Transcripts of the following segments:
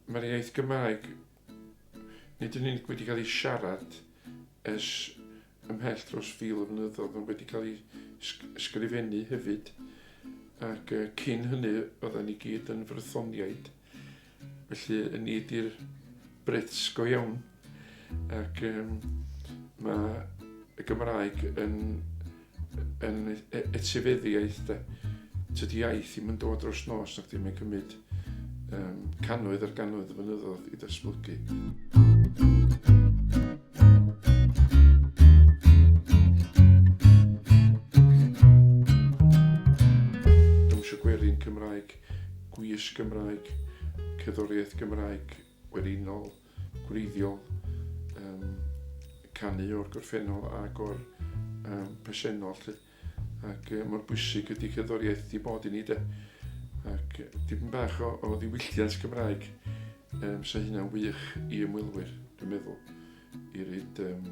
Mae'r iaith Gymraeg, nid yn unig wedi cael ei siarad ers ymhell dros fil o flynyddoedd, ond wedi cael ei ysgrifennu hefyd, ac cyn hynny oedden ni gyd yn frythoniaid. Felly, yn ni ydy'r Brits go iawn. Ac um, mae y Gymraeg yn, yn e, e, etifeddiaeth de. Tydy iaith ddim yn dod dros nos, ac ddim yn cymryd um, cannoedd ar gannoedd o fynyddoedd i datblygu. Dawnsio gwerin Cymraeg Gwisg Gymraeg, cerddoriaeth Gymraeg werinol, gwreiddiol, um, canu o'r gorffennol ac o'r um, presennol. Lly. Ac uh, mor bwysig ydy cerddoriaeth di bod i ni de. Ac dipyn bach o, o ddiwylliant Gymraeg, um, so hynna'n wych i ymwelwyr, dwi'n meddwl, i reid um,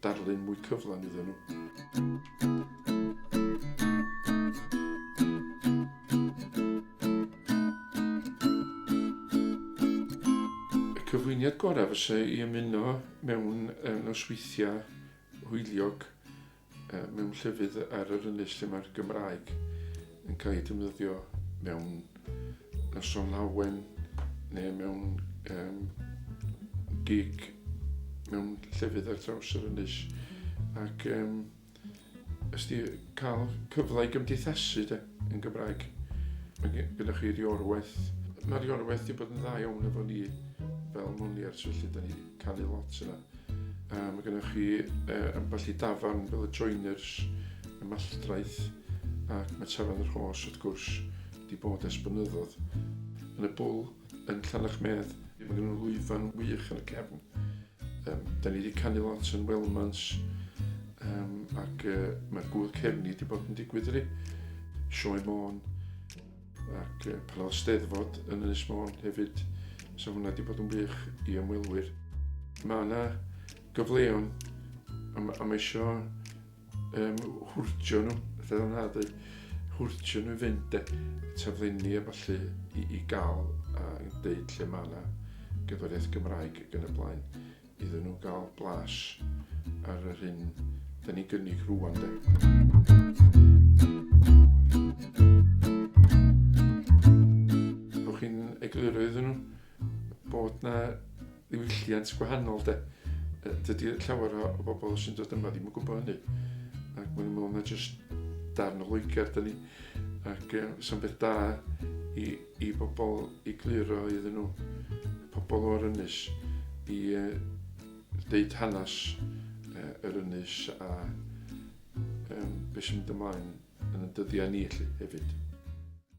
darlun mwy cyflawn iddyn nhw. cyflwyniad gorau fysa i ymuno mewn nosweithiau hwyliog mewn llefydd ar yr ynys lle mae'r Gymraeg yn cael ei defnyddio mewn noson lawen neu mewn um, gig mewn llefydd ar draws yr ynys ac um, ysdi cael cyfle i gymdeithasu de, yn Gymraeg. Mae gyda chi riorwaith. Mae riorwaith wedi bod yn dda iawn efo ni fel moniars felly da ni. canu lot yna. A mae gennych chi uh, ambell i dafarn fel y Joiners, y Malltraeth ac mae Tafarn yr Hos wrth gwrs wedi bod ers blynyddoedd. Yn y bwl yn Llanach Medd, mae gennym nhw lwyfan wych yn y cefn. Um, da ni wedi canu lot yn Welmans um, ac uh, mae gwyl cefni wedi bod yn digwydd ydy. Sioe Môn, Ac pan oedd steddfod yn Ynys Môn hefyd, so hwnna wedi bod yn wych i ymwelwyr. Mae yna gyfleon a mae eisiau um, hwrtio nhw, fel yna dweud, hwrtio nhw i fynd e, taflenni a falle i, i gael a dweud lle mae yna gyforiaeth Gymraeg yn y blaen. Iddyn nhw gael blas ar yr hyn da ni gynnig rwan de. Rwy'n chi'n egluro iddyn nhw bod na ddiwylliant gwahanol de. Dydy llawer o bobl sy'n dod yma ddim yn gwybod hynny. Ac mae'n meddwl na jyst darn o Loegr da ni. Ac uh, sy'n beth da i i bobl i gluro iddyn nhw, pobl o'r ynys, i ddeud hanes yr ynys a beth sy'n mynd ymlaen yn y dyddiau ni hefyd.